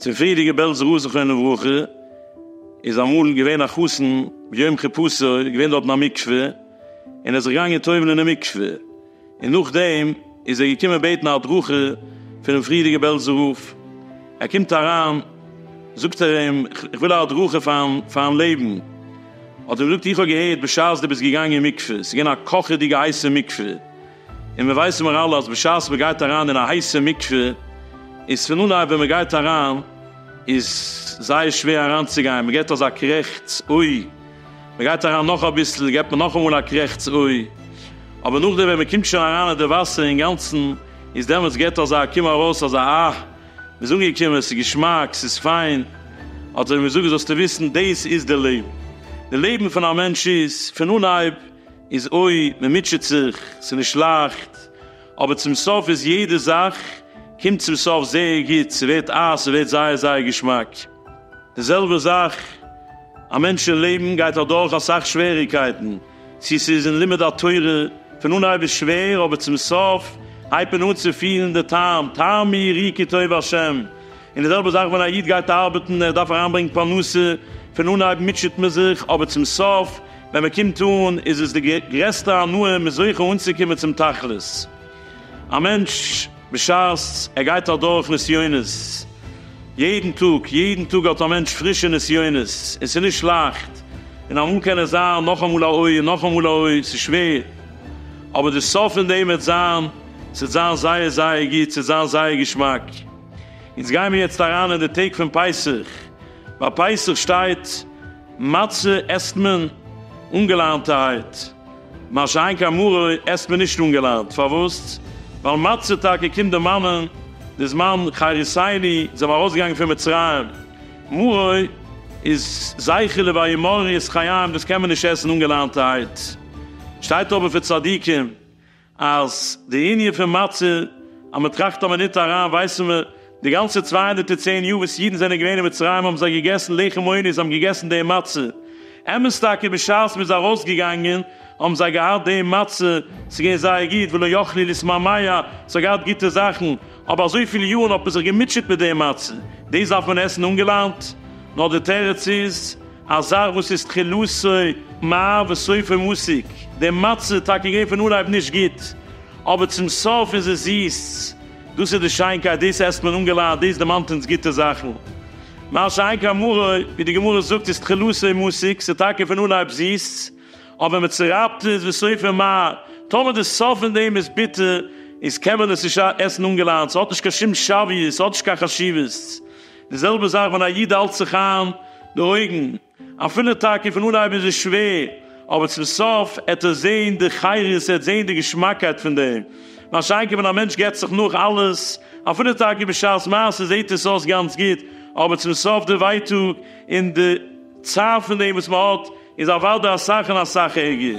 צופעליגע בעלז ר' זכרונו לברכה איז אמאל געווען א חתן ביום חופתו איז געווען דארטן א מקווה און ער איז זיך געגאנגען טובל'ן אין מקווה און נאכדעם איז ער געקומען בעטן א הדרכה פונעם פריערדיגע בעלז רב ער קומט אריין זאגט ער אים איך וויל א הדרכה פארן לעבן. האט ער געזאגט איך האב געהערט בשעת דו ביסט געגאנגען אין מקווה ס'איז געווען א קאכעדיגע הייסע מקווה, און מיר ווייסן מיר אלע אז בשעת מען גייט אריין אין א הייסע מקווה איז פון אנהייב ווען מען גייט אריין איז זייער שווער אריינצוגיין, מען געבט אזא קרעכץ אוי, מען גייט אריין נאך אביסל געבט מען נאכאמאל א קרעכץ אוי, אבער נאכדעם ווען מען קומט שוין אריין אין די וואסער אינגאנצן איז דעמאלטס געבט אזא קום ארויס אזא אה. מ'איז אנגעקומען, ס'איז געשמאק, ס'איז פיין, האט ער אים געזאגט, זאלסטו וויסן, דאס איז די לעבן. די לעבן פון א מענטש איז, פון אנהייב איז אוי, מ'מוטשעט זיך, ס'איז נישט לייכט, אבער צום סוף איז יעדע זאך קומט צום סוף זייער גוט, ס'ווערט אייז, ס'ווערט זייער זייער געשמאק. די זעלבע זאך, א מענטש אין לעבן גייט אדורך אסאך שוועריגקייטן, צי ס'איז אין לימוד התורה, פון אנהייב איז שווער אבער צום סוף הייבט מען אן צו פילן די טעם, טעמי רי כי טוב השם, און די זעלבע זאך ווען א איד גייט ארבעטן, ער דארף אריינברענגן פרנסה, פון אנהייב מוטשעט מען זיך אבער צום סוף ווען מען קומט אן איז עס די גרעסטע הנאה, מען איז זוכה אנצוקומען צום תכלית. א מענטש בשעת ער גייט אדורך נסיונות, יעדן טאג, יעדן טאג האט א מענטש פרישע נסיונות, און ס'איז נישט לייכט, און אמאל קען עס זיין נאכאמאל א אוי און נאכאמאל א אוי, ס'איז שווער, אבער די סוף פון דעם וועט זיין, ס'וועט זיין זייער זייער גוט, ס'וועט זיין זייער געשמאק. אונז גיימיר יעצט אריין אין די טעג פון פסח, ביי פסח שטייט מצה עסט מען אנגעלאנטערהייט, מה שאין כן מרור עסט מען נישט אנגעלאנט, פארוואס? ווייל מצה טאקע קומט דערמאנען די זמן חריסיני, זיי זענען ארויסגעגאנגען פון מצרים, מרור איז זכר לוויה מרור איז חיים, דאס קען מען נישט עסן אנגעלאנטערהייט, שטייט אבער פון צדיקים אז די ענין פון מצה אז מען טראכט אז מען ניט אריין ווייסן מיר די גאנצע צוויי הונדערט און צען יאר וואס אידן זענען געווען אין מצרים האבן זיי געגעסן לחם עוני, זיי האבן געגעסן די מצה. אמת טאקע בשעת מ'איז ארויסגעגאנגען האבן זיי געהאט די מצה, ס'איז געווען זייער גוט, ולא יכלי לשמא מיה, ס'האט געהאט גוטע זאכן, אבער אזויפיל יארן האט מען זיך געמוטשעט מיט די מצה, דאס דארף מען עסן אנגעלאנט? נאר די תירוץ איז, א זאך וואס איז תחילתו מר וסופו מסיק, די מצה איז טאקע געווען פון אנהייב נישט גוט, אבער צום סוף איז עס זיס. דאס איז די שיינקייט, דאס עסט מען אנגעלייט, דאס דערמאנט אונז גוטע זאכן. מה שאין כן מרה, ווי די גמרא זאגט, איז תחילתו מסיק, ס'איז טאקע פון אנהייב זיס, אבער מען צורייבט עס וסופו מר. טאמער די סוף פון דעם איז ביטער, איז קען מען עס נישט עסן אנגעלייט, ס'האט נישט קיין שום שוויות, ס'האט נישט קיין חשיבות. די זעלבע זאך ווען א איד האלט זיך איין די אויגן. אפילו טאקע פון אנהייב איז עס שווער, אבער צום סוף עט ער זעהן די חירות, ער עט זעהן די געשמאקייט פון דעם. מה שאין כן ווען א מענטש געט זיך נאך אלעס, אפילו טאקע בשעת מעשה זעהט עס אויס גאנץ גוט, אבער צום סוף די ווייטאג און די צער פון דעם וואס מען האט איז אוודאי אסאך און אסאך ערגער.